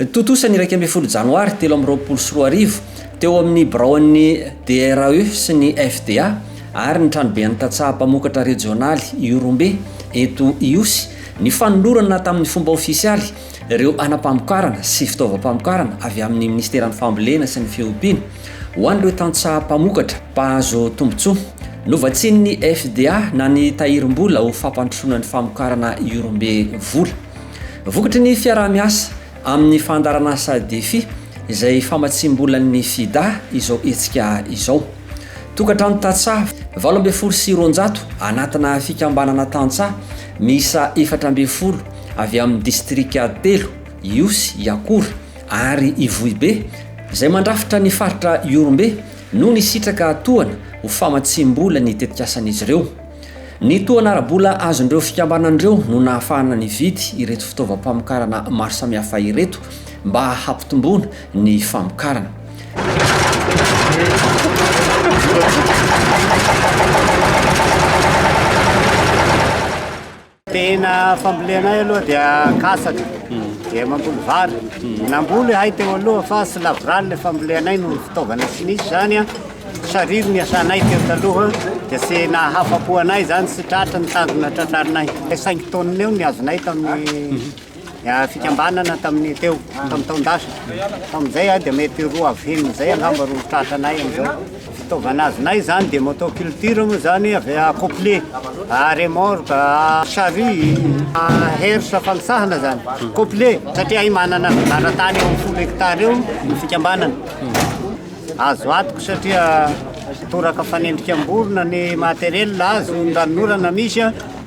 Tontosa ny iraika ambin'ny folo janoary telo amby roapolo sy roa arivo, teo amin'ny biraon'ny DRAE sy ny FDA ary ny tranoben'ny tantsaha mpamokatra rejionaly Ihorombe eto Ihosy, ny fanolorana tamin'ny fomba ofisialy ireo hanam-pamokarana sy fitaovam-pamokarana avy amin'ny Minisiteran'ny Fambolena sy ny Fiompiana ho an'ireo tantsaha mpamokatra mpahazo tombontsoa. Novatsian'ny FDA na ny tahirim-bola ho fampandrosoana ny famokarana Iorombe vola. Vokatry ny fiaraha-miasa amin'ny fandaharanasa Defi izay famatsiam-bolan'ny FIDA izao hetsika izao. Tokantrano tantsaha valo ambin'ny folo sy roanjato anatina fikambanana tantsaha miisa efatra ambin'ny folo avy amin'ny distrika telo, Ihosy, Iakora ary Ivohibe, izay mandrafitra ny faritra Ihorombe no nisitraka tohana ho famatsiam-bola ny tetikasan'izy ireo. Ny tohana ara-bola azon'ireo fikambanana ireo no nahafahana nividy ireto fitaovam-pamokarana maro samihafa ireto mba hampitomboana ny famokarana. Tena fambolena ahy aloha dia katsaka, dia mamboly vary. Namboly ahay teo aloha fa tsy lavorary ilay fambolenay noho ny fitaovana tsy nisy izany. Sariry ny asanay teo taloha dia tsy nahafa-po anay izany, tsy tratra ny tanjona tratrarinay. Cinq tonnes eo ny azonay tamin'ny fikambanana tamin'ny teo tamin'ny taon-dasa tamin'izay dia mety roa avy enina izay angamba roa tratra anay amin'izao fitaovana azonay izany dia motoculture moa izany avy accoupler remorque charrue herse fanisahana izany coupler satria ahy manana laratany eo amin'ny folo hectare eo ny fikambanana azo atoko satria toraka fanendrika am-borona ny matériel azo ny ranonorana misy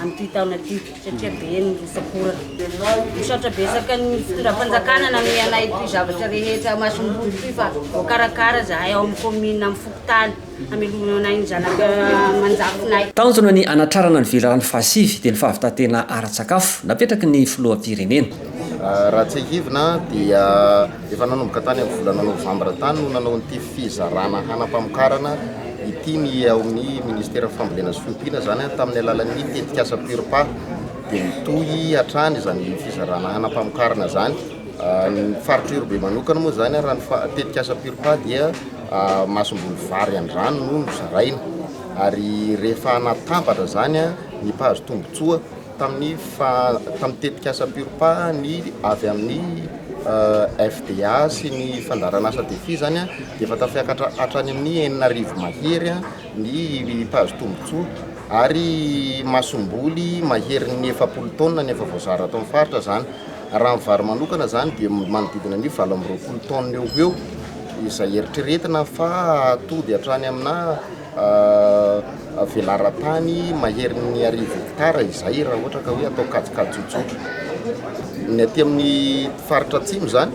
amin'ity taona ity satria be ny rotsak'ora. Misaotra betsaka ny fitondram-panjakana nanome anay ity zavatra rehetra masom-boly ity fa voakarakara izahay ao amin'ny kaominina amin'ny fokontany hamelomana anay ny zanaka aman-jafinay. Tanjona ny hanatrarana ny velirano fahasivy dia ny fahavitantena ara-tsakafo napetraky ny filoham-pirenena. Raha tsiahivina dia Efa nanomboka tany amin'ny volana novambra tany no nanao an'ity fizarana hanam-pamokarana ity ny ao amin'ny ministeran'ny fambolena sy fiompiana, izany tamin'ny alalan'ny tetikasa Purpa. Dia mitohy hatrany izany fizarana hanam-pamokarana izany. Ny faritra Irobe manokana moa izany raha ny tetikasa Purpa dia masomboly vary an-drano no nozaraina ary rehefa natambatra izany ny mpahazo tombontsoa tamin'ny faha tamin'ny tetikasa PURPA ny avy amin'ny FDA sy ny fandaharan'asa Defi izany dia efa tafiakatra hatrany amin'ny enina arivo mahery ny mpahazo tombontsoa ary masomboly maherin'ny efapolo taonina no efa voazara ato amin'ny faritra izany. Raha ny vary manokana izany dia manodidina ny valo amby roapolo taonina eo ho eo izay eritreretina fa hahatoby hatrany amina Velaran-tany maherin'ny arivo hektara izay raha ohatra ka hoe atao kajikajy tsotra. Ny aty amin'ny faritra atsimo izany,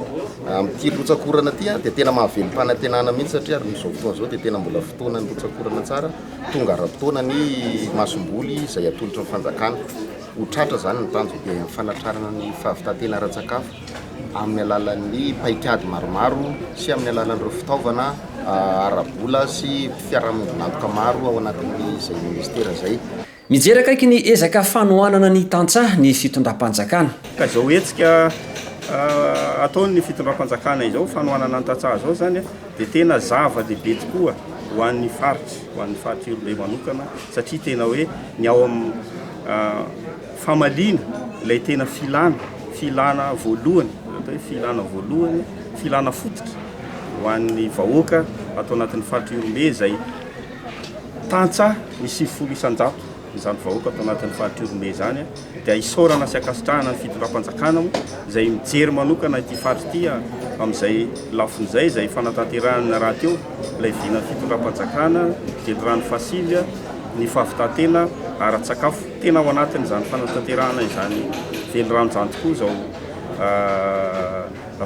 amin'ity rotsak'orana ity dia tena mahavelom-panantenana mihitsy satria ary amin'izao fotoana izao dia tena mbola fotoanan'ny rotsak'orana tsara, tonga ara-potoana ny masomboly izay atolotra ny fanjakana. Ho tratra izany ny tanjona dia ny fanatrarana ny fahavitantena ara-tsakafo. amin'ny alalan'ny paikady maromaro sy amin'ny alalan'ireo fitaovana ara-bola sy fiarahamoninakoka maro ao anatin'izay minisitera izay. Mijery akaiky ny ezaka fanohanana ny tantsaha ny fitondram-panjakana. Ka izao hetsika ataon'ny fitondram-panjakana izao, fanohanana ny tantsaha izao izany dia tena zava-dehibe tokoa ho an'ny faritra, ho an'ny faritra Iorolay manokana satria tena hoe ny ao amin'ny Famaliana ilay tena filana, filana voalohany, izay atao hoe filana voalohany, filana fototra ho an'ny vahoaka ato anatin'ny faritra Ihorombe izay tantsaha ny sivifolo isan-jato izany vahoaka ato anatin'ny faritra Ihorombe izany dia isaorana sy ankasitrahana ny fitondram-panjakana moa izay mijery manokana ity faritra ity amin'izay lafiny izay izay fanatanterahana rahateo ilay vinan'ny fitondram-panjakana Jendrano Fasilya ny fahavitan-tena ara-tsakafo Tena ao anatin'izany fanatanterahana izany velirano izany tokoa izao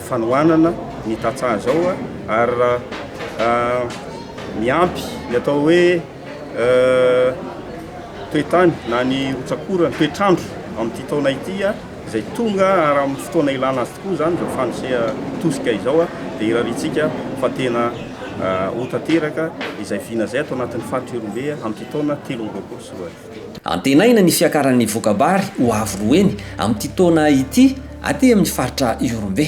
fanohanana ny tantsaha izao ary miampy ny atao hoe toetany na ny rotsak'orana, toetr'andro amin'ity taona ity izay tonga ary amin'ny fotoana ilana azy tokoa izany izao fandrisiha tosika izao dia irariantsika fa tena ho tanteraka izay vina izay ato anatin'ny faritra Ihorombe amin'ity taona telo amby roapolo sy roa arivo. Antenaina ny fiakaran'ny voka-bary ho avo roa heny amin'ity taona ity aty amin'ny faritra Ihorombe.